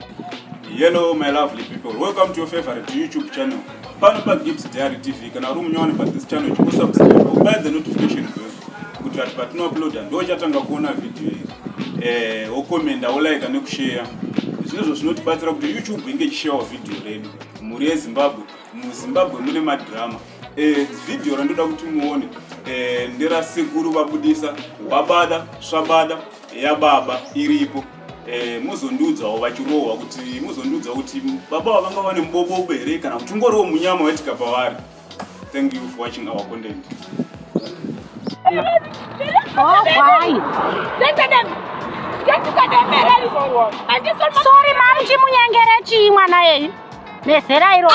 Hello my lovely people, welcome to your favorite YouTube channel. Pano pa Gibbs Diary TV, kana uri munyowani pa this channel, chiko subscribe, ubaya the notification bell, kuti vati patino uploada, ndo chatanga kuona video iyi. Eh, wokomenda, wolaika nekushare. Zvinozvo zvinotibatsira kuti YouTube inge chishawa video redu. Mhuri yeZimbabwe, muZimbabwe mune madrama. Eh, video randoda kuti muone, eh, ndera sekuru vabudisa, wabada, swabada, yababa, iripo. Eh, muzondiudzawo vachirohwa kuti muzondiudzawo kuti baba ava vanga vane mubobobo here kana kuti ungoriwo munyama waitika pavari thank you for watching our content Oh, why? Listen to them. Get to get them married. And this one. Sorry, mom. Chimunyengere chi mwana yeyi. Nezera iro.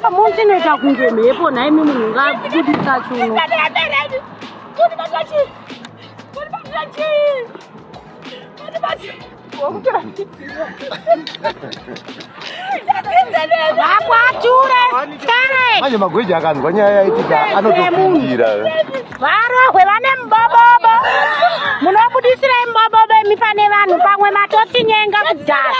Pamwe chinoita kunge mhepo nhai mi munhu ngabudisa chuno. Vakwature skare. Manje magweja akanzwa nyaya yaitika anotopindira. Varohwe vane mubobobo. Munobudisirei mubobobo imi pane vanhu pamwe matotinyenga kudhara.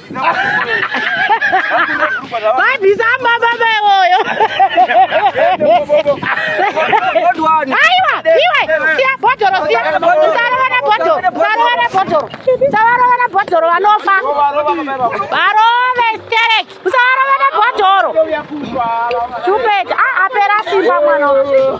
Babisa baba bayoyo. Aiwa, iwe, siya bhodhoro, siya. Usarovana bhodhoro, usarovana bhodhoro. Usarovana bhodhoro vanofa. Varove sterek, usarovana bhodhoro. Chupeti, ah apera simba mwana.